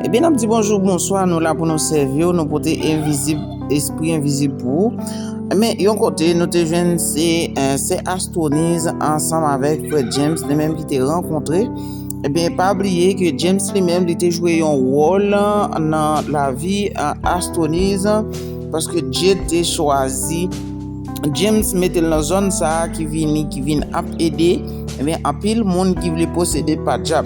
Ebyen nap di bonjou bonswa nou la pou nou sèvi w nou pote envizib espri envizib pou ou men yon kote nou te jwenn se sè astwoniz ansanm avèk frè James li menm ki te rankontre ebyen eh pa bliye ke James li menm li te jwe yon wòl nan lavi astwoniz paske Dye te chwazi James metel nan zòn sa ki vini ki vin ap ede ebyen eh anpil moun ki vle posede pa dyab.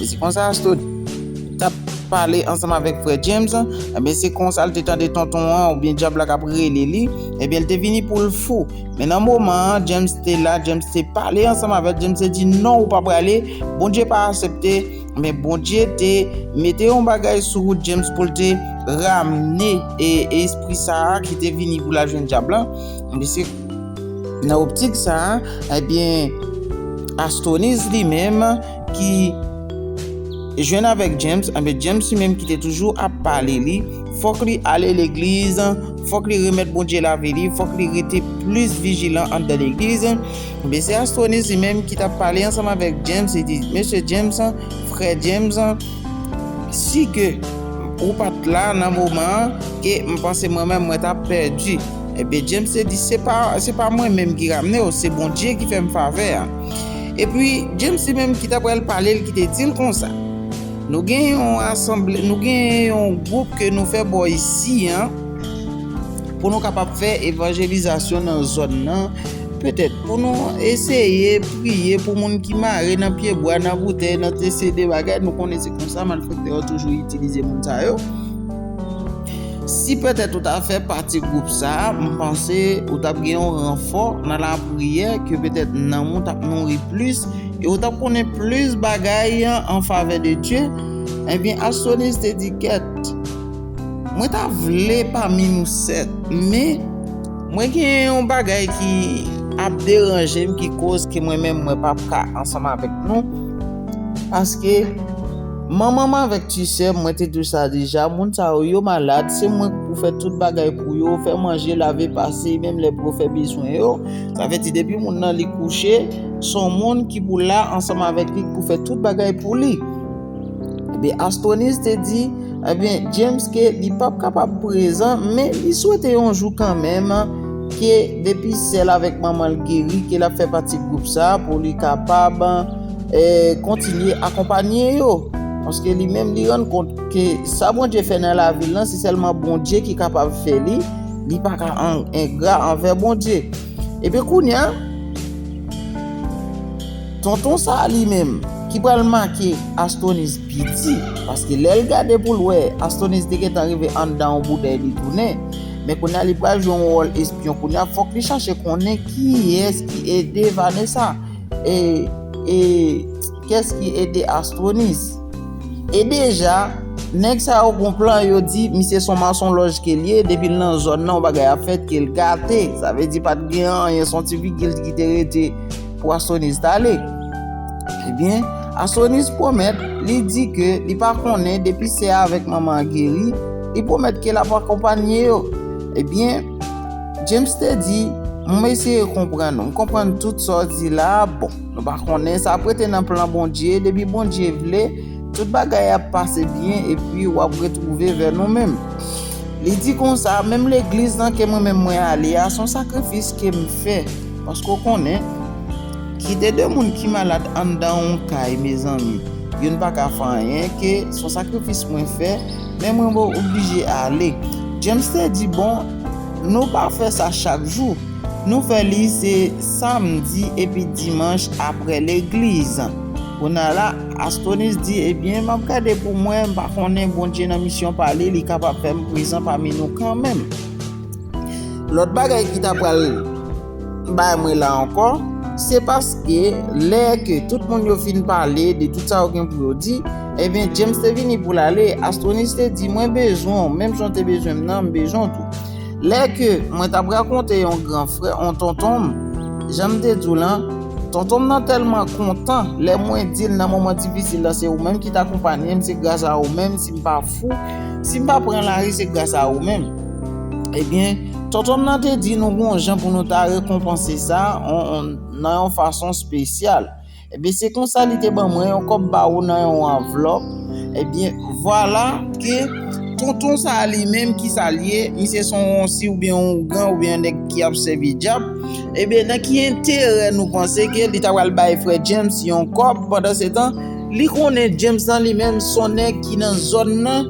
E se konsa Asto tap pale ansanm avèk frè James, ebyen se konsa l te tande tonton an oubyen djab la kap rele li, ebyen l te vini pou l fou. Men nan moman an, James te la, James te pale ansanm avè l, James te di non ou pa prale, Bondye pa asepte, men Bondye te mete yon bagay sou wout James pou l te ramne espri sa a ki te vini pou l al jwenn djab la, ebyen se nan optik sa a, ebyen Astoniz li menm. ki jwenn avèk James, anben James li menm ki te toujou ap pale li, fòk li ale legliz, fòk li remèt Bondye lavi li, fòk li rete plis vijilan anndan legliz, anben se Astronise li menm ki t ap pale ansanm avèk James, li di, Mesye James, frè James, si ke ou pa t la nan moman an, e m panse mwen menm mwen t ap pèdi. Ebyen James te di, se pa mwen menm ki ramne w, se Bondye ki fè m favè a. Epi, James li menm ki ta pral pale l ki te di l konsa, Nou gen yon asanble, nou gen yon gwoup ke nou fè bò isi an pou nou kapab fè evanjelizasyon nan zòn nan, petèt pou nou eseye priye pou moun ki mare nan pyebwa, nan boutèy, nan tese de bagay, nou konnen se konsa malfèktè yo toujou itilize moun sa yo. Si pètèt ou ta fè pati gwoup sa a, m panse ou t ap gen yon ranfò nan lapriyè ke pètèt nanm ou t ap nouri plis e ou t ap konnen plis bagay an favè de Dye. Ebyen, Astroniz te di, Kèt, mwen ta vle pami nou sèt, men. Mwen gen yon bagay ki ap deranje m ki koz ke mwen menm mwen p ap ka ansanm avèk nou. Paske Manmanm avèk ti sèm mwen te di w sa deja moun sa yo yo malad se mwen k pou fè tout bagay pou yo fè manje lave pase menm lè pou yo fè bezwen yo sa vle di depi moun nan li kouche son moun ki pou la ansanm avèk li k pou fè tout bagay pou li ebyen Astroniz te di ebyen James ke li pap kapab prezan men li swete yon jou kanmenm ke depi sè l avèk manman l geri ke lap fè pati gwoup sa pou li kapab. Kontinye akonpanye yo, paske li menm li rann kont ke sa Bondye fè nan lavi l lan se sèlman Bondye ki kapab fè li, li pa ka engra anvè Bondye. Epi kounye a, tonton sa a li menm ki pral make Astonis piti, paske lè l gade pou l wè Astonis te gentan rive anndan yon boutèy li tounen, men kounye a li pral jwe yon wòl espyon, kounye a fòk li chache konnen kiyès ki ede Vanessa. E e kès ki ede Astronis? E deja nèg sa yo gon plan yo di misye son mason lòj kel ye depil nan zòn nan yon bagay ap fèt kel gate sa vle di pat gen anyen son ti vigil ki te rete pou Astronis t ale ebyen Astronis pwomèt li di ke li pa konnen depi sè a avèk manman an geri li pwomèt ke lap akonpanye yo ebyen. James te di, M eseye konprann ou. M konprann tout sa w di la a. Bon, nou pa konnen, sa ap rete nan plan Bondye. Depi Bondye vle, tout bagay ap pase byen epi w ap retwouve vè nou menm. Li di konsa, Menm legliz nan ke mwen menm mwen ale a, se yon sakrifis ke m fè. Paske w konnen, kite de moun ki malad anndan yon kay, mezanmi, youn pa ka fè anyen, ke se yon sakrifis mwen fè, men mwen oblije ale. James te di, Bon, Nou pa fè sa chak jou. Nou fè li se samdi epi dimanch aprè legliz. Kounye a la, Astonis di, Ebyen, m ap gade pou mwen, m pa konnen, Bondye nan misyon pa li, li kapab fè m prezan pami nou kanmenm. Lòt bagay ki ta pral. Bay mwen la ankò, se paske lè ke tout moun yo fin pale de tout sa yo gen pou yo di, ebyen James te vini pou l ale, Astronise te di mwen bezwen w menm jan w te bezwen m nan, m bezwen w tou. Lè ke mwen t ap rakonte yon gran frè, yon tonton m, jan m te di w lan, tonton m nan tèlman kontan lè mwen di l nan moman difisil la se ou menm ki t akonpanye m, se gras a ou menm si m pa fou, si m pa pran lari se gras a ou menm. Ebyen, Tontonm nan te di nou gon jan pou nou ta rekonpanse sa nan yon fason spesyal. Ebyen, se konsa li te ban mwen yon kòb bawou nan yon anvlòp. Ebyen, vwala ke Tonton sa a li menm ki sa l ye, misye se yon wonsi oubyen yon ougan oubyen yon nèg ki ap sèvi dyab. Ebyen, nan ki enterè nou panse ke li ta pral bay frè James yon kòb pandan se tan? Li konnen James lan li menm son nèg ki nan zòn nan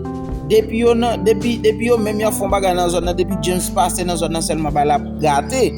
depi yo nan depi depi yo menm yap fon bagay nan zòn nan depi James pase nan zòn nan sèlman ba lap gate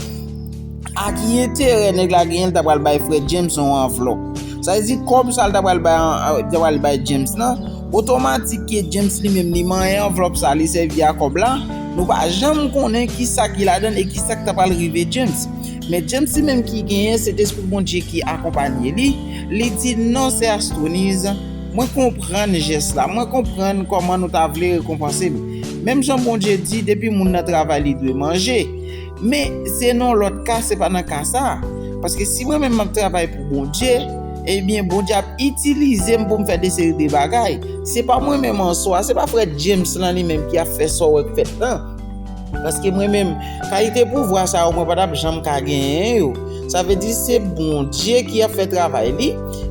a ki enterè nèg la genyen li ta pral bay frè James yon anvlòp sa vle di kòb sa li ta pral bay li ta pral bay James lan otomatik ke James li menm li manyen anvlòp sa li sèvi a kòb la nou pa janm konnen kisa ki ladann e kisa ki ta pral rive James. Men James li menm ki genyen se despri Bondye ki akonpanye li, li di non sè Astronise, mwen konprann jès la, mwen konprann kòman nou ta vle rekonpanse m. Menm jan Bondye di depi moun nan travay li dwe manje. Men se nan yon lòt ka se pa nan ka sa a. Paske si mwen menm m ap travay pou Bondye, ebyen Bondye ap itilize m pou m fè de seri de bagay. Se pa mwen menm an swa, se pa frè James lan li menm ki ap fè sa w wè k fèt lan. Paske mwen menm, kalite pouvwa sa yo mwen pa t ap janm ka genyen yo. Sa vle di se Bondye ki ap fè travay li,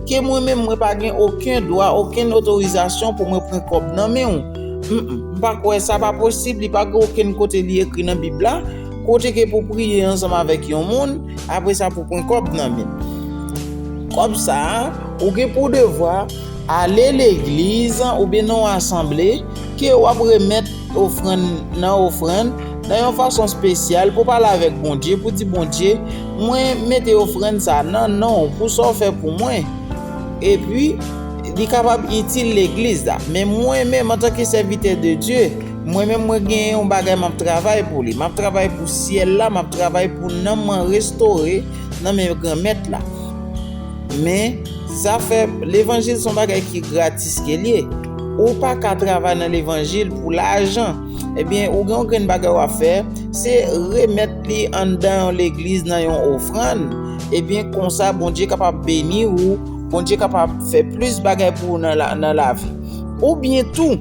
ke mwen menm mwen pa gen oken dwa, okenn otorizasyon pou mwen pran kòb nan men ou. M pa kwè, sa pa posib, li pa gen okenn kote li ekri nan Bib la, kote ke pou priye ansanm avèk yon moun, apre sa pou pran kòb nan men l. Kòb sa a, ou gen pou devwa ale legliz oubyen nan yon asanble ke w ap remèt. Ofrann nan ofrann nan yon fason spesyal pou pale avèk Bondye pou di Bondye mwen mete ofrann sa nan non w pou sa w fè pou mwen epi li kapab itil legliz la men mwen menm antanke sèvitè de Dye mwen menm mwen gen yon bagay map travay pou li map travay pou syèl la map travay pou nanm mwen restore nan men granmèt la men zafè levanjil son bagay ki gratis ke l ye. Ou pa ka travay nan levanjil pou lajan. Ebyen ou gen yon grenn bagay wap fè, se remèt li anndan yon legliz nan yon ofrann, ebyen konsa Bondye kapab beni ou, Bondye kapab fè plis bagay pou ou nan lavi. Oubyen tou,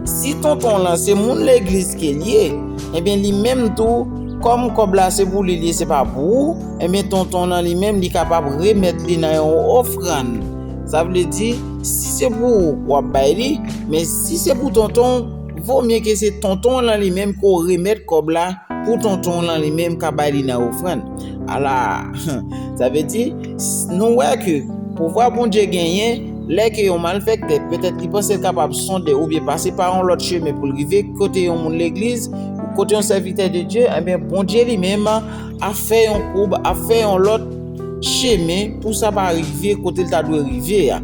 si tonton lan se moun legliz ke li ye, ebyen li menm tou, kòm kòb la se pou li li ye se pa pou ou, ebyen tonton lan li menm li kapab remèt li nan yon ofrann. Sa vle di, si se pou ou, w ap bay li, men si se pou tonton w, vo mye ke se tonton w lan li menm ke w remèt kòb la pou tonton w lan li menm ka bay li nan ofrann. Ala! Sa vle di, nou wè ke pouvwa Bondye genyen, lè ke yon malfèktè, petèt li panse l kapab sonde oubyen pase pa yon lòt chemen pou l rive kote yon moun legliz, kote yon sèvitè de Dye, enben Bondye li menm ap fè yon koub, ap fè yon lòt, chemen pou sa pa rive kote l ta dwe rive a.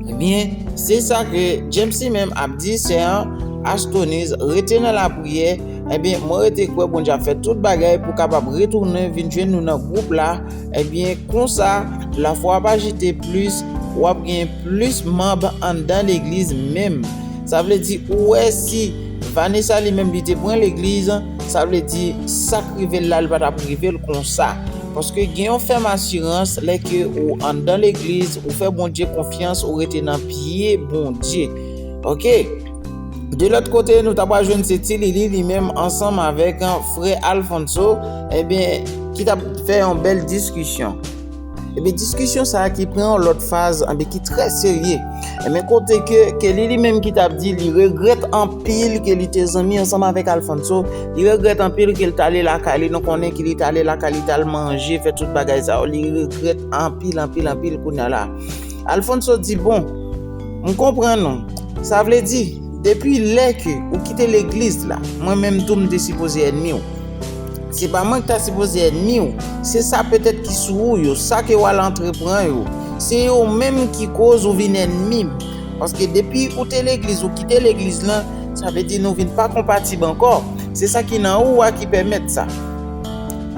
Ebyen, se sa ke James li menm ap di sè an, Astoniz, rete nan lapriyè, ebyen mwen rete kwè Bondye ap fè tout bagay pou kapab retounen vin jwenn nou nan gwoup la, ebyen konsa lafwa ap ajite plis, w ap gen plis manb anndan legliz menm. Sa vle di ou wè si Vanessa li menm li te pran legliz. Sa vle di sak rivel la li pa tap rivel konsa paske gen yon fèm asirans lè ke ou anndan legliz ou fè Bondye konfyans ou rete nan pye Bondye ok de lòt kote nou ta pral jwenn se ti lili li menm ansanm avèk frè Alfonso ebyen ki tap fè yon bèl diskisyon. Ebyen diskisyon sa ki pran yon lòt faz anbe ki trè serye. Ebyen kote ke Kelly li menm ki tap di li regrèt anpil ke li te zanmi ansanm avèk Alfonso, li regrèt anpil ke li tale lakay li, nou konnen ke li tale lakay li tal manje, fè tout bagay sa yo, li regrèt anpil anpil anpil kounya la. Alfonso di bon, m konprann ou, sa vle di depi lè ke ou kite legliz la, mwen menm tou m te sipoze ènmi ou. Se pa mwen ki ta sipoze ènmi w, se sa petèt ki sou ou yo, sa ke w al antrepran yo. Se yo menm ki koz ou vin ènmi m. Paske depi ou te legliz, ou kite legliz lan, sa vle di nou vin pa konpatib ankò. Se sa ki nan ou a ki pèmèt sa.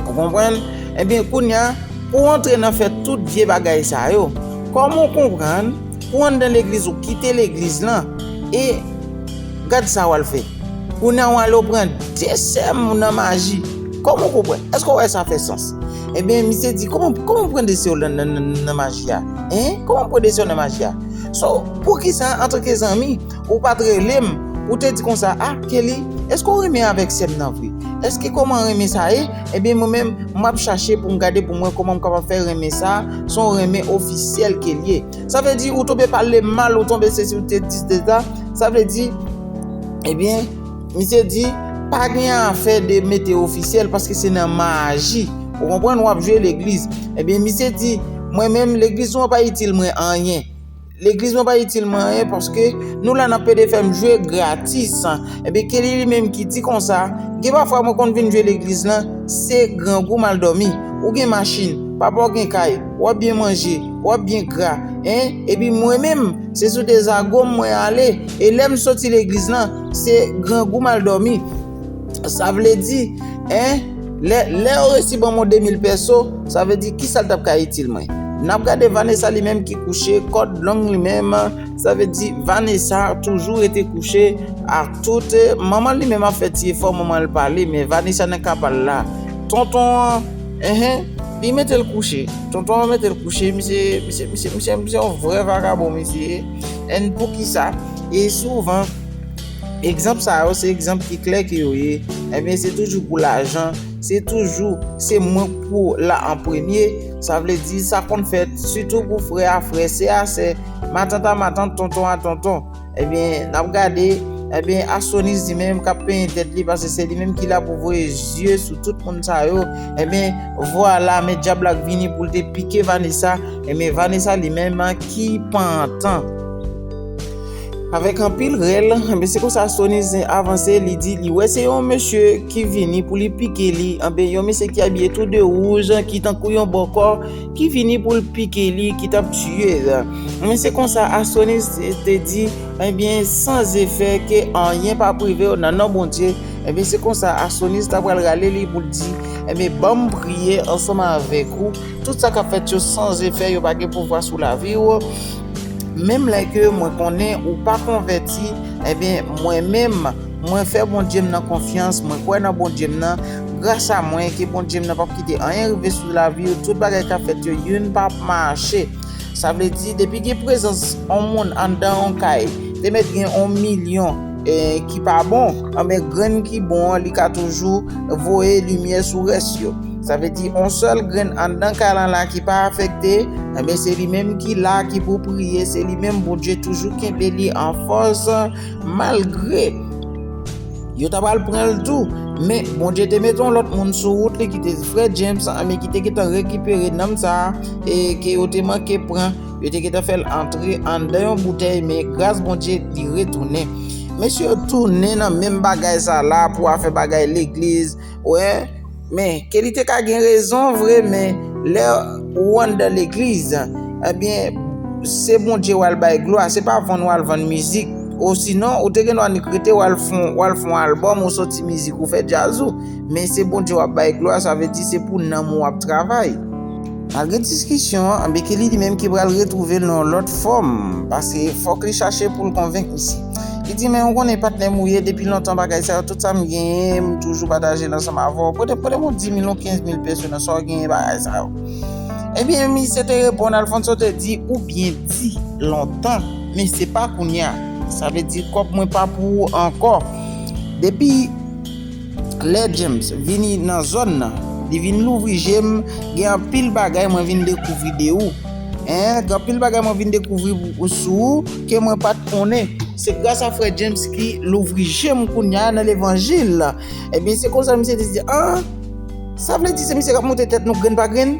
Ou konprann? Enben, kounye a, pou w antre nan fè tout vye bagay sa yo, kòman w konprann? Ou anndan legliz ou kite legliz lan e gad sa wal fè. Kounya wale ou pran 2 sèm nan maji. Kòman ou konprann? Èske ou wè sa fè sans? Ebyen misye di kòman kòman ou pran 2 sèw nan maji a? Hein? Kòman ou pran 2 sèw nan maji a? So, poukisa antanke zanmi Ou pat rele m, ou te di konsa a, Kelly, èske ou renmen avèk sè m nan vre? Èske kòman renmen sa ye? Ebyen mwen menm, m ap chache pou m gade pou m wè kòman m kapab fè renmen sa a son w renmen ofisyèl Kellie. Sa vle di ou tonbe pale m mal, ou tonbe sesi, ou te di de sa, sa vle di, ebyen, misye di, pa gen afè de mete ofisyèl paske se nan maji, ou konprann, w ap jwe legliz. Ebyen misye di, mwen menm legliz ou an pa itil mwen anyen. Legliz mwen pa itil mwen anyen paske nou la nan pede fè m jwe gratis. Ebyen Kelly li menm ki di konsa, gen pafwa mwen konn vin jwe legliz lan, se grangou m al dòmi. Ou gen machin, papa w gen kay, w ap byen manje, w ap byen gra, hein, epi mwen menm, se sou de zago m mwen ale, e lè m soti legliz lan, se grangou m al dòmi. Sa vle di, en, lè yo resi ban mwen 2000 pèso, sa vle di kisa l tap ka itil mwen. Nap gade Vanessa li menm ki kouche, kòd long li menm, sa vle di Vanessa toujou rete kouche ak tout, manman li menm ap fè ti efò manman l pale men Vanessa nan ka pa l la. Tonton an, en, li mete l kouche, tonton an mete l kouche, misye, misye, misye, misye yon vrè vagabon misye ye, en poukisa, e souvan. Egzanp sa yo se egzanp ki klè ke yo ye, ebyen se toujou pou lajan, se toujou se mwen pou la an premye, sa vle di sa konn fèt sitou pou frè a frè, sè a sè, matant a matant, tonton a tonton. Ebyen n ap gade, ebyen Astroniz li menm k ap penyen tèt li pase se li menm ki la pou voye zye sou tout moun sa yo, ebyen vwala men dyab la k vini pou l te pike Vanesa, ebyen Vanesa li menm ki pantan. Avèk anpil rèl, anben se konsa Sony Zen avanse, li di li wè se yon mesye ki vini pou li pike li, anben yon mesye ki abiye tou de wouj, ki tankou yon bòkò, ki vini pou l pike li, ki t ap tiye l. Anben se konsa a Sony te di, anben san zefè ke anyen p ap rive w nan non Bondye, anben se konsa a Sony ta pral rale li pou l di, anben ban m priye ansanm avèk ou, tout sa k ap fèt yo san zefè, yo pa gen pouvwa sou lavi w. Menm lè ke mwen konnen ou pa konvèti, enben mwen menm, mwen fè Bondye m nan konfyans, mwen kwè nan Bondye m nan, gras a mwen, ke Bondye m nan pap kite anyen rive sou lavi ou, tout bagay kap fèt yo, youn pa ap mache. Sa vle di, depi gen prezans on moun anndan on kay, te mèt gen on milyon. ki pa bon anben grenn ki bon an li ka toujou voye limyè sou rès yo sa vle di on sèl grenn anndan kay lan la ki pa afekte anben se li menm ki la ki pou priye se li menm Bondye toujou kenbe li an fòs malgre yo ta pral pran l tou men Bondye te mete yon lòt moun sou wout li ki te frè James anben ki te gentan rekipere nanm sa e ke yo te manke pran Yo te gentan fèl antre anndan yon boutèy men gras Bondye li retounen. Mesye yo tounen nan menm bagay sa la pou afè bagay legliz wè men ke li te ka gen rezon vre men lè ou anndan legliz ebyen se Bondye wal bay glwa se pa vann wal vann mizik osinon ou te gen dwa annik rete wal fon album ou soti mizik ou fè djaz ou men se Bondye wap bay glwa sa vle di se pou nanm ou wap travay. Malgre diskisyon an, Bekele li menm ki pral retwouve l nan yon lòt fòm, pase fòk li chache pou l konvenk misye. Li di, men ou konnen patnè m ou ye, depi lontan bagay sa yo, tout sa m genyen, m toujou pataje l ansanm avè w, pote m yon dimil, yon kenzmil peso nan sa w genyen bagay sa yo. Ebyen misye te reponn, Alfonso te di, ou byen di, lontan, men se pa kounya. Sa vle di kòb mwen pa pou ou ankò. Depi. Lè James vini nan zòn nan li vin louvri jem gen anpil bagay mwen vin dekouvri de ou en gen anpil bagay mwen vin dekouvri sou ou ke mwen pat konnen se gras a frè James ki louvri jem kounya nan levanjil ebyen se konsa misye te di an sa vle di se misye kap monte tèt nou grenn pa grenn.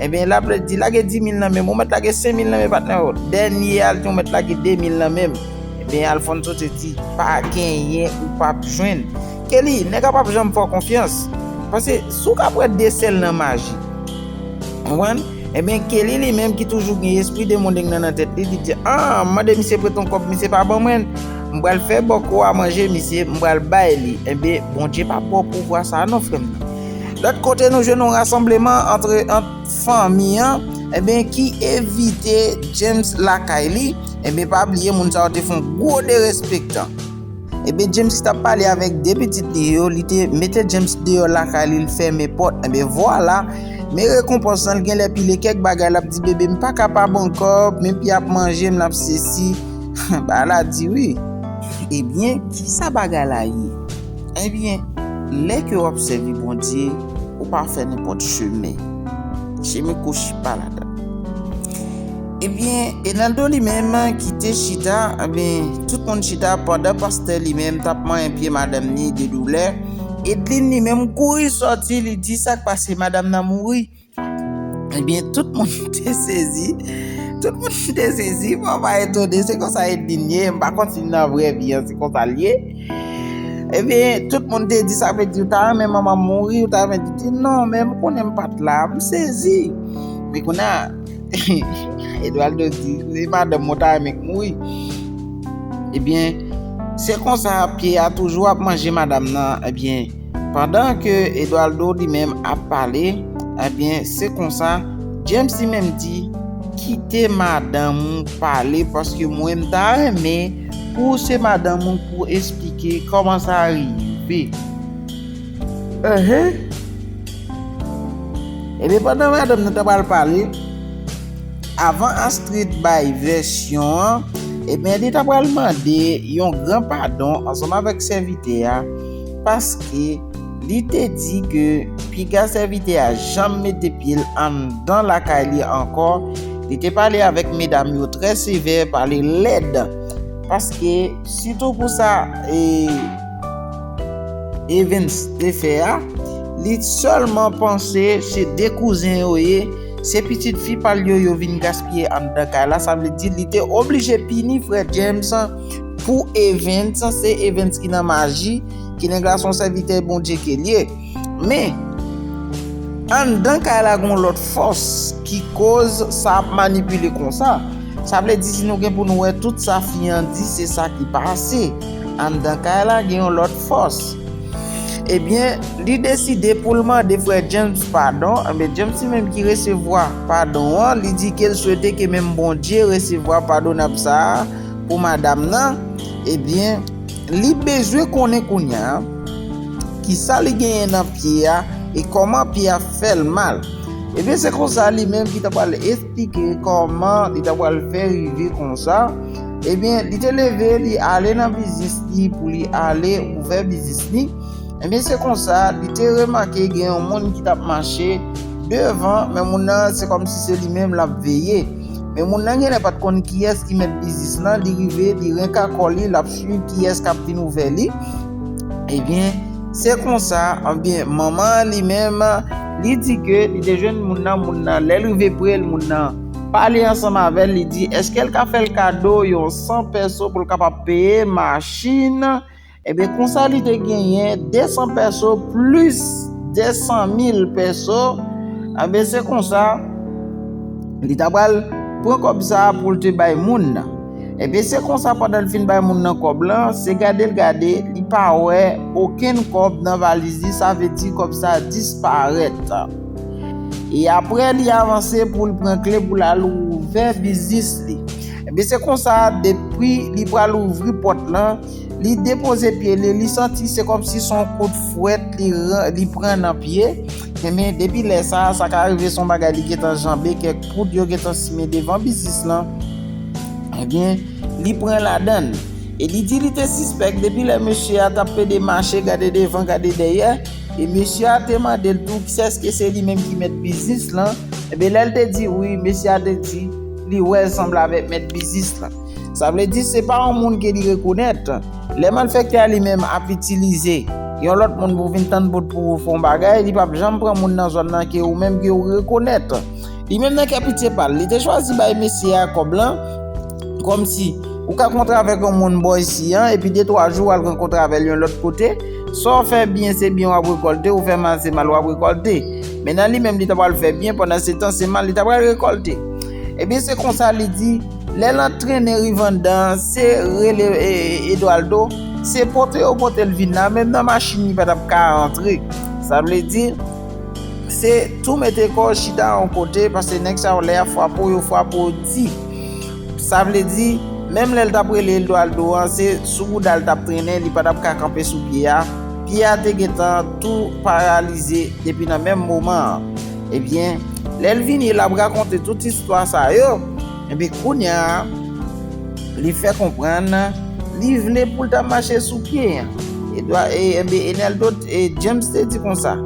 Ebyen lap lè di lage 10 mil nan menm ou mèt lage 5 mil nan men patnè ou dènye al di ou mèt lage 2 mil nan menm ebyen Alphonso te di pa genyen ou pap jwenn Kelly nèg la pap janm fè w konfyans pase si w ka pran 2 sèl nan maji ou konprann ebyen Kelly li menm ki toujou gen espri demodeng nan nan tèt li li di an m mande misye prete yon kòb misye pa ban mwen m pral fè bòkò a manje misye m pral bay li ebyen Bondye pa ba w pouvwa sa non frè m nan. Lòt kote nou jwenn yon rasanbleman antre ant fanmi an enben ki evite James lakay li enben pa bliye moun sa yo te fè yon gwo derespektan enben James ki tap pale avèk 2 pitit li yo li te mete James deyò lakay li li fèmen pòt enben vwala men rekonpans lan li genlè pile kèk bagay lap di bebe m pa kapab ankò men pi ap manje m lap sesi bagay la di wi. Ebyen kisa bagay la ye? Ebyen, lè ke wap sèvi Bondye, ou pa fè nenpòt chemen. Chemen kwochi pa ladan. Ebyen, Enaldo li menm ki te chita, ebyen, tout moun chita pandan pastè li menm tap manyen pye madanm ni de doulè. Edlin li menm kouri sòti, li di sak pase, madam nan mouri. Ebyen tout moun te sezi, tout moun te sezi, mwen pa etone, se konsa Edlin ye, mwen pa konn si nan vrè vi an se konsa l ye. Ebyen tout moun te di sa vle di ou ta renmen manman w mouri, ou ta renmen, li di non men m konnen m pa t la, m sezi. Men kounye a, Edwaldo di, si madanm mwen ta renmen k mouri, ebyen se konsa pye a toujou ap manje madanm nan, ebyen. Pandan ke Eduardo li menm ap pale, ebyen se konsa James li menm di, kite madanm ou pale paske mwen m ta renmen pou w se madanm ou pou w esplike kòman sa rive. Ehe! Ebyen pandan madanm nan ta pral pale, avan Astrid bay vèsyon an, ebyen li ta pral mande yon gran padon ansanm avèk sèvitè a, paske li te di ke piga sèvitè a janm mete pye l anndan lakay li ankò, li te pale avèk medam yo trè sevè, pale lèd, paske sitou pou sa Evens te fè a, li sèlman panse se 2 kouzen yo ye, se pitit fi pa l yo yo vin gaspiye anndan kay la, sa vle di li te oblije pini frè James. pou Evens, se Evens ki nan maji, ki nan gason sèvitè Bondye ke li ye. Men, anndan kay la gon lòt fòs ki koz sa ap manipile konsa. Sa vle di si nou gen pou nou wè tout sa fi an di se sa ki pase. Anndan kay la gen yon lòt fòs. Ebyen, li deside pou l mande frè James padon, anben James li menm ki resevwa padon an, li di ke l swete ke menm Bondye resevwa padonab sa a. pou madam nan ebyen li bezwen konnen kounya kisa li genyen nan pye a e kòman pye a fèl mal ebyen se konsa li menm ki ta pral esplike kòman li ta pral fè rive konsa ebyen li te leve li ale nan biznis li pou li ale ouvè biznis li ebyen se konsa li te remake gen yon moun ki tap mache devan men moun nan se kòmsi se li menm lap veye. Men moun nan genlè pat konn kiyès ki mèt biznis lan, li rive li renka kò li lap swiv kiyès kap vin ouvè li, ebyen se konsa ebyen manman an li menm li di ke li te jwenn moun nan, moun nan lèl rive prel moun nan pale ansanm avèl li di eskel ka fèl kado yon 100 pèso poul kapab peye machin. Ebyen konsa li te genyen 200 pèso plis 200 mil pèso, ebyen se konsa li ta pral pran kòb sa pou l te bay moun nan. Ebyen se konsa pandan l fin bay moun nan kòb lan, se gade l gade, li pa wè okenn kòb nan valiz li, sa vle di kòb sa disparèt. E aprè li avanse pou l pran kle pou l al ouvè biznis li. Ebyen se konsa depi li pral ouvri pòt lan, Li depoze pye li, li santi se kòmsi son kout fwèt li pran nan pye, enben depi lè sa a, sa ka rive son bagay li gentan janbe kèk poud yo gentan simen devan biznis lan, enben li pran ladan l. E li di li te sispèk depi lè mesye a t ap pede mache gade devan gade dèyè, e mesye a te mande l tou kisèske se li menm ki mèt biznis lan, enben lè l te di wi, mesye a te di li wè l sanble avèk mèt biznis lan. Sa vle di se pa yon moun ke li rekonèt. Lè malfèktè a li menm ap itilize yon lòt moun pou vin tann bout pou fè yon bagay, li pap janm pran moun nan zòn nan ke ou menm ke ou rekonèt. Li menm nan kè pitye pa l, li te chwazi bay mesye a kòb lan kòm si ou ka kontre avèk yon moun bò isi an epi de twa jou wal rankontre avè l yon lòt kote, sa w fè byen se byen wap rekòlte, ou fè mal se mal wap rekòlte. Men nan li menm li ta pral fè byen pandan se tan se mal li ta pral rekòlte. Ebyen se konsa li di. Lè l antrene Rivanda an, se rele Edwaldo, se pote yo pote l vin la, menm nan machin li pa t ap ka antre. Sa vle di, se tou mete kò w chita yon kote, pase nèg sa yo lè y ap frape w, yo frape w di. Sa vle di, menm lè l t ap rele Edwaldo an, se sou bouda l t ap trennen, li pa t ap ka kanpe sou pye a. Pye a te gen tan tou paralize depi nan menm moman an. Ebyen, lè l vini, l ap rakonte tout istwa sa yo. Ebyen, kounye a, li fè konprann, li vle pou l ta mache sou pye. Ebyen, Enèl do, James te di konsa,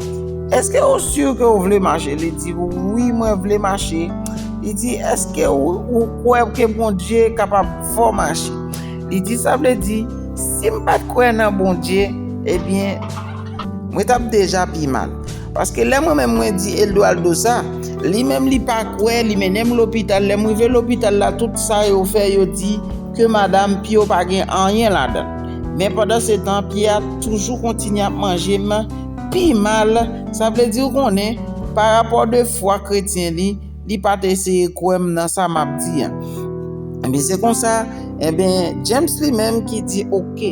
Èske ou si ke ou vle mache? Li di, Wi, mwen vle mache. Li di, Èske ou kwè ke Bondye kapab fè w mache? Li di, Sa vle di, si m pa t kwè nan Bondye, ebyen, mwen t ap deja pi mal. Paske lè mwen menm mwen di Eldoaldo sa, li menm li pa kwè, li mennen m lopital, lè m rive lopital la tout sa yo fè yo di ke madam pye w pa gen anyen ladan. Men pandansetan pye a toujou kontinye ap manje m pi mal, sa vle di ou konnen parapò de fwa kretyen li, Li pa te eseye kwè m nan sa m ap di a. Enben, se konsa, enben, James li menm ki di, ok,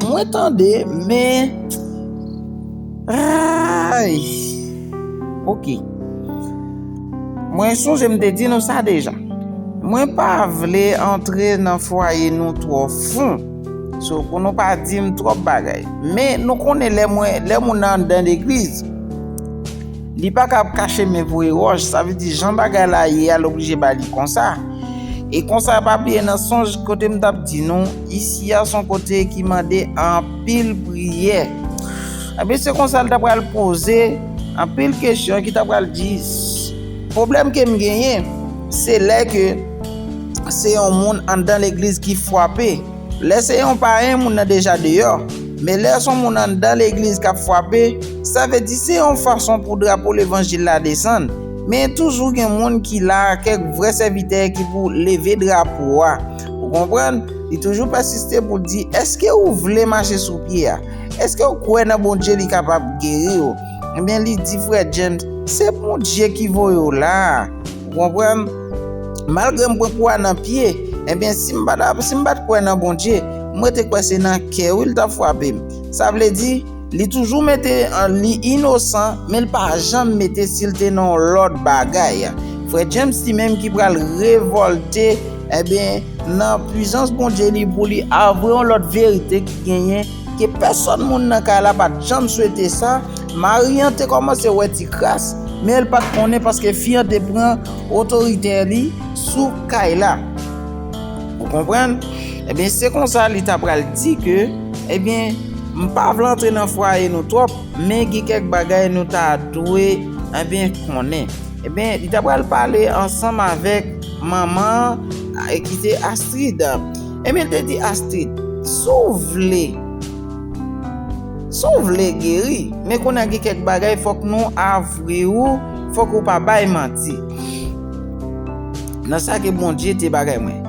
mwen tande, men, ray! Ok. Mwen sonje m te di nou sa deja. Mwen pa vle antre nan fwaye nou twò fon, so pou nou pa di m twòp bagay. Men, nou konnen lè moun nan andan legliz. Li pa ka ap kache men voye wòch, sa vle di jan bagay la ye a l oblije ba li konsa. E konsa pa bliye nan sonj kote m t ap di nou, isi a s on kote ki mande anpil priyè. Enben se konsa l t ap pral poze anpil kesyon ki t ap pral di pwoblèm ke m genyen se lè ke se yon moun anndan legliz ki fwape. Lè se yon payen moun nan deja deyò, men lè son moun anndan legliz kap fwape, sa vle di se yon fason pou drapo levanjil la desann, men toujou gen moun ki la, kèk vrè sèvitè ki pou leve drapo a. Ou konprann? Li toujou pèsiste poul di, eske ou vle mache sou pye a? Eskew kwè nan Bondye li kapab geriw? Ebyen li di frè James, se Bondye ki voyew la a. Ou konprann? Malgre m pran kwa nan pye, enben si m pa t kwè nan Bondye, m rete kwè se nan kè wi l t ap frape m. Sa vle di, li toujou mete li inosan, men l pa janm mete si l te nan yon lòt bagay. Frè James li menm ki pral revòlte, enben nan pwizans Bondye li pou li avwe yon lòt verite ki genyen. Ke pèsòn moun nan kay la pa t janm swete sa, mari an te kòmanse wè ti kras, men l pa t konnen paske fi an te pran otoritè li sou kay la. Ou konprann? Ebyen, se konsa li ta pral di ke, ebyen, m pa vle antre nan fwaye nou twòp, men gen kèk bagay nou ta dwe, ebyen, konnen. Ebyen, li ta pral pale ansanm avèk manman an ki te Astrid. Emil te di Astrid, Si w vle, si w vle geri, men kounye a gen kèk bagay fòk nou avwe ou, fòk ou pa bay manti. Nan sa ke Bondye te bagay mwen.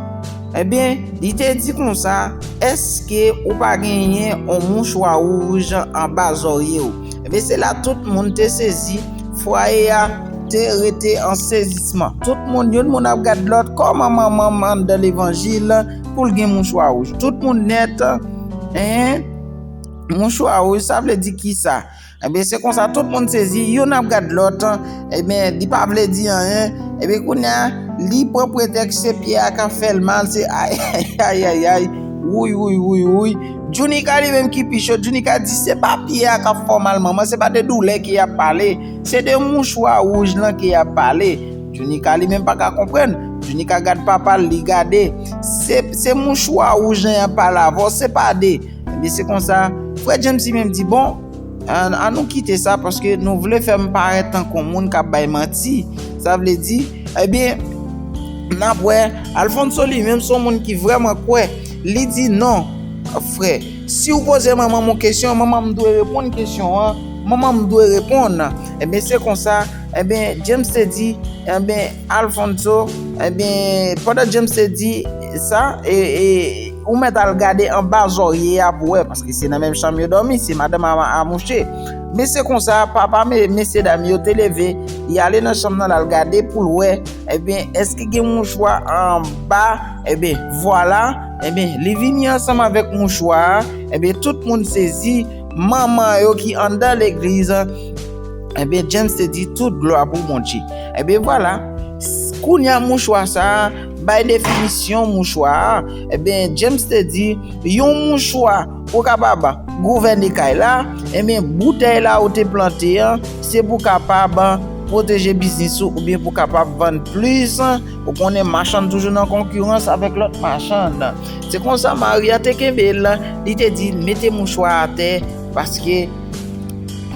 Ebyen, li te di konsa, Èske ou pa genyen yon mouchwa wouj anba zòrye ou? Ebyen se la tout moun te sezi, fwaye a te rete an sezisman. Tout moun, youn moun ap gad lòt, kòman manman m anndan levanjil pou l gen mouchwa wouj? Tout moun nèt, hein? Mouchwa wouj, sa vle di kisa? Ebyen se konsa tout moun sezi, youn ap gad lòt, Ebyen li pa vle di anyen, ebyen kounya li pran pretèks se pyè a kap fèl mal se ayayayayay wouy wouy wouy wouy Djounika li menm ki pi cho Djounika di se pa pyè a kap fè w mal manman se pa de doulè ke yap pale se de mouchwa wouj lan ke yap pale Djounika li menm paka konprann Djounika gad papa l li gade se mouchwa wouj lan yap pale avè w se pa de ebyen se konsa frè Djemsi menm di bon An an nou kite sa paske nou vle fè m parèt tankou yon moun k ap bay manti. Sa vle di, ebyen, n ap wè. Alfonso li menm se yon moun ki vrèman kwè. Li di, non, frè, si w poze manman m yon kesyon, manman m dwe reponn kesyon an. Manman m dwe reponn. Ebyen, se konsa, ebyen, James te di, ebyen. Alfonso, Ebyen, pandan James te di sa, ou mèt al gade anba zòrye a pou wè, paske se nan menm chanm yo dòmi, se madanm a mouche. Men se konsa, papa mesyedam yo te leve, li ale nan chanm nan, l al gade pou l wè, ebyen, èske gen mouchwa anba, ebyen, vwala, ebyen, li vini ansanm avèk mouchwa a, ebyen, tout moun sezi, manman yo ki anndan legliz. Ebyen James te di tout glwa pou Bondye. Ebyen vwala, kounya mouchwa sa a bay definisyon mouchwa a. Ebyen James te di, yon mouchwa pou kapab gouvène kay la, ebyen boutèy la ou te plante an, se pou kapab pwoteje biznis ou oubyen pou kapab vann plis, ou konnen machann toujou nan konkirans avèk lòt machann. Se konsa mari a te kenbe l, li te di mete mouchwa atè. Paske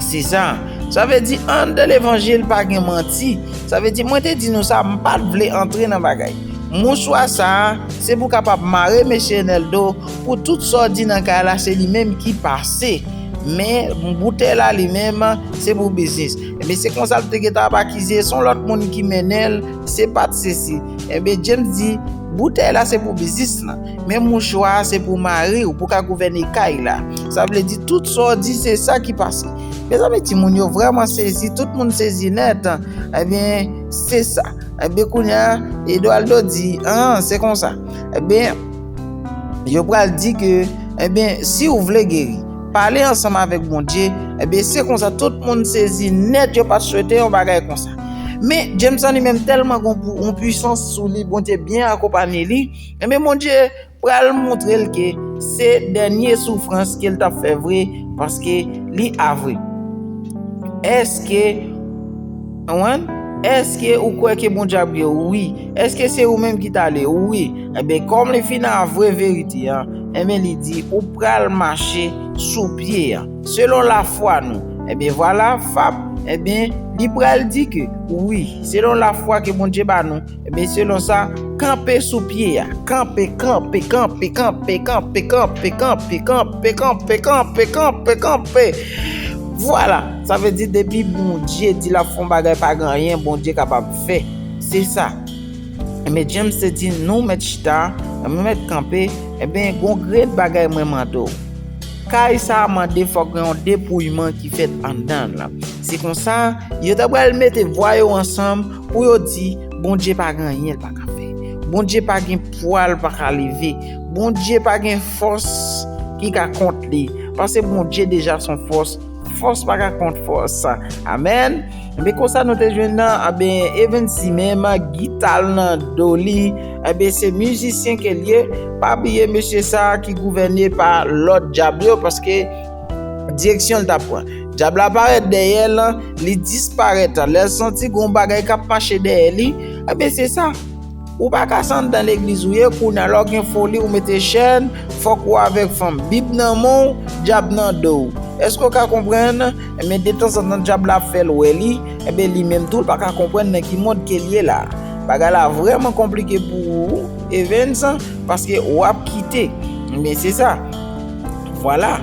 se sa. Sa vle di anndan levanjil pa gen manti. Sa vle di mwen te di nou sa m pat vle antre nan bagay. Mouswa sa se pou kapab mare mesye Enel do pou tout sa w di nan kay la se li menm ki pase. Men boutèy la li menm se pou biznis. Enben se konsa l te gen tan ap akize son lòt moun ki mennen l se pat sesi. Enben James di boutèy la se pou biznis lan. Men mouchwa a se pou mariw pou ka gouvène kay la. Sa vle di tout sa w di se sa ki pase. Mezanmi timoun yo vrèman sezi tout moun sezi nèt ebyen se sa ebyen kounya Edoualdo di an se konsa ebyen yo pral di ke ebyen si w vle geri pale ansanm avèk Bondye ebyen se konsa tout moun sezi nèt yo pat swete yon bagay konsa men Jameson li menm tèlman gon yon pwisans sou li Bondye byen akonpanye li. Enben Bondye pral montre l ke se dènye soufrans ke l t ap fè vre paske li avwe. Èske Èske ou kwè ke Bondye ap geri w? Wi. Èske se ou menm ki t ale? Wi. Enben kòm li fin avwe verite a, enben li di ou pral mache sou pye a. Selon lafwa nou. Enben vwala fap enben li pral di ke wi selon lafwa ke Bondye ba nou. Ebyen selon sa, kanpe sou pye a. Kanpe, kanpe, kanpe, kanpe, kanpe, kanpe, kanpe, kanpe, kanpe, kanpe, kanpe, kanpe. Vwala, sa vle di depi Bondye di lap fè yon bagay pa gen anyen Bondye kapab fè. Se sa. Ebyen James te di nou mèt chita, nou mèt kanpe, ebyen gon grenn bagay mwen mande w. Kay sa a mande fòk gen yon depouyman ki fèt anndan l. Se konsa, yo ta pral mete vwa yo ansanm. Pou yo di, Bondye pa gen anyen l pa ka fè. Bondye pa gen pwa l pa ka leve. Bondye pa gen fòs ki ka kont li. Pase Bondye deja son fòs, fòs pa ka kont fòs. Amèn. Enben konsa nou te jwenn nan, anben Evens li menm gita l nan do li, enben se mizisyen ke l ye. Pa bliye mesye sa ki gouvène pa lòd dyab yo paske. Direksyon l t ap pran. Dyab la parèt dèyè l, li disparèt. Lè l santi gen yon bagay k ap mache dèyè li, enben se sa. Ou pa ka se anndan legliz ou ye, kounye a lè w gen foli ou mete chèn, fòk ou avèk fanm. Bib nan men w, dyab nan do w. Èske w ka konprann? Enben detanzantan dyab la ap fè l wè li, enben li menm tou l pa ka konprann nan ki mond ke l ye la. Bagay la vrèman konplike pou ou, Evens, paske w ap kite. Enben se sa. Vwala!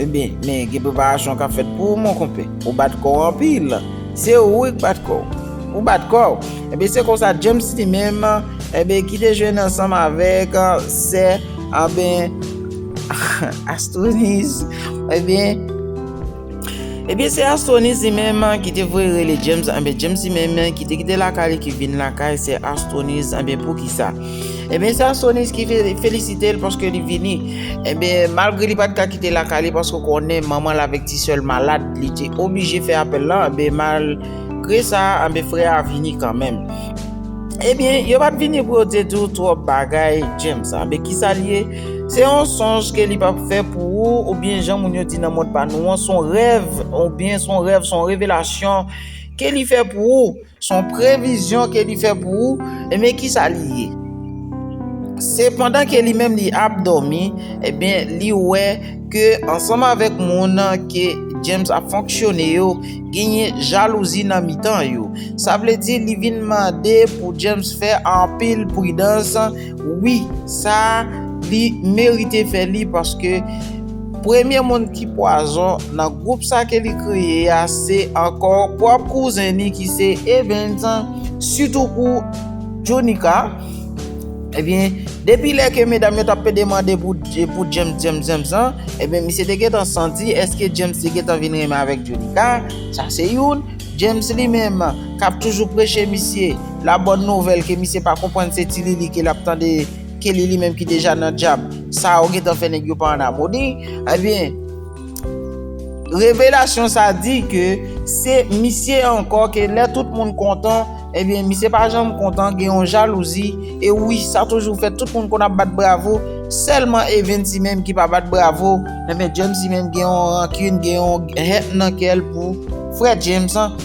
Ebyen, men gen preparasyon k ap fèt pou ou, monkonpè. Ou bat kò w anpil. Se ou wi k bat kò w. Ou bat kò w! Ebyen, se konsa James li menm, enben, ki te jwenn ansanm avèk sè, anben, Astroniz, ebyen. Ebyen se Astronise li menm ki te voye rele James anbyen James li menm ki te kite lakay li ki vin lakay se Astronise anbyen poukisa Ebyen se Astronise ki felisite l paske li vini Ebyen malgre li pat ka kite lakay li paske konnen manman l avèk ti sè l malad li te oblije fè apèl lan anbyen malgre sa anbyen frè a vini kanmenm Ebyen yo pat vini pou yo te di w twòp bagay James anbyen kisa l ye Se yon sonj ke li pap fè pou ou, oubyen jan moun yo di nan mond pa nou an, son rèv, oubyen son rèv, son revelasyon ke li fè pou ou, son previzyon ke li fè pou ou, ebyen kisa li ye? Se pandan ke li menm li ap dòmi, ebyen li wè ke ansanm avèk moun ke James ap fonksyone yo, genyen jalouzi nan mitan yo. Sa vle di li vin mande pou James fè anpil pridans. Wi sa li merite fè li paske premye moun ki pwazon nan gwoup sa ke li kreye a se ankò pwòp kouzen li ki se Evens sitou pou Djonika ebyen depi lè ke medam yo tap pede mande pou James James James lan ebyen misye te gentan santi eske James te gentan vin renmen avèk Djonika sa se youn James li menm kap toujou preche misye la bòn nouvèl ke misye pa konprann se ti lili ke lap tande ke li li menm ki deja nan djab sa ou gentan fè nèg yo pa an amoni ebyen revelasyon sa di ke se misye ankò ke lè tout moun kontan Ebyen misye pa janm kontan gen yon jalouzi e wi sa toujou fèt tout moun konn ap bat bravo sèlman evensy menm ki pa bat bravo ebyen James menm gen yon rankin gen yon haine nan kèl pou frè James an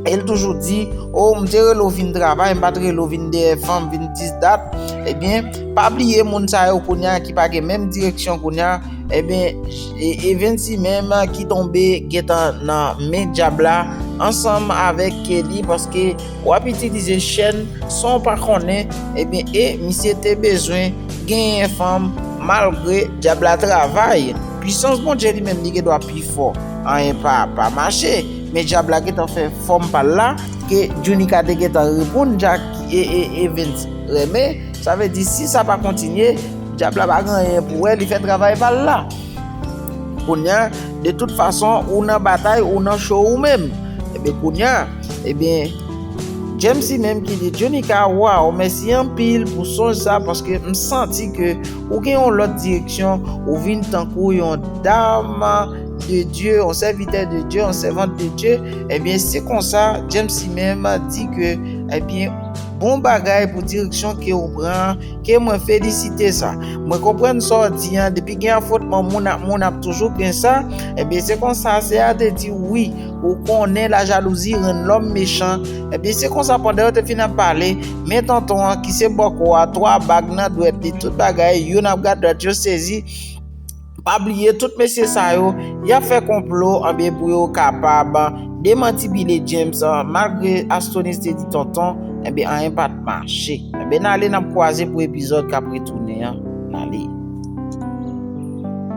el toujou di oh m te rele w vin travay m pat rele w vin dèyè fanm vin dis dat ebyen pa bliye moun sa yo kounya ki pa gen menm direksyon kounya. Ebyen Evency menm ki tonbe gentan nan men dyab la ansanm avèk Kelly paske wap itilize chèn sanw pa konnen ebyen e misye te bezwen genyen fanm malgre dyab la travay pwisans Bondye li menm li gen dwa pi fò anyen pa pa mache men dyab la gentan fè fòm pal la ke Junica te gentan reponn Jack e Evens renmen. Sa vle di si sa pa kontinye, dyab la pa gen anyen pou wè, li fè travay pa l la. Kounya, de tout fason, ou nan batay, ou nan cho ou menm. Ebyen kounya, ebyen, James li menm ki di, Junica, waw, mèsi anpil pou sonj sa paske m santi ke ou gen yon lòt direksyon, ou vin tankou yon dam de Dye, yon sèvitè de Dye, yon sèvant de Dye. Ebyen, se konsa, James li menm di ke, ebyen. Bon bagay pou direksyon kew pran an ke mwen felisite sa mwen konprann sa w di an depi gen afwontman moun ak moun ap toujou gen sa ebyen se konsa se a te di wi ou konnen la jalouzi rann lòm mechan ebyen se konsa pandan yo te fin ap pale men tonton an ki se bòkò a 3 bag nan dwèt li tout bagay youn ap gad lòt yo sezi. Pa bliye tout mesye sa yo, yap fè konplo anbyen pou yo kapab demanti Billy James malgre Astonis te di tonton enbyen anyen pat mache enbyen nale nap kwaze pou epizòd kap retounen an nale.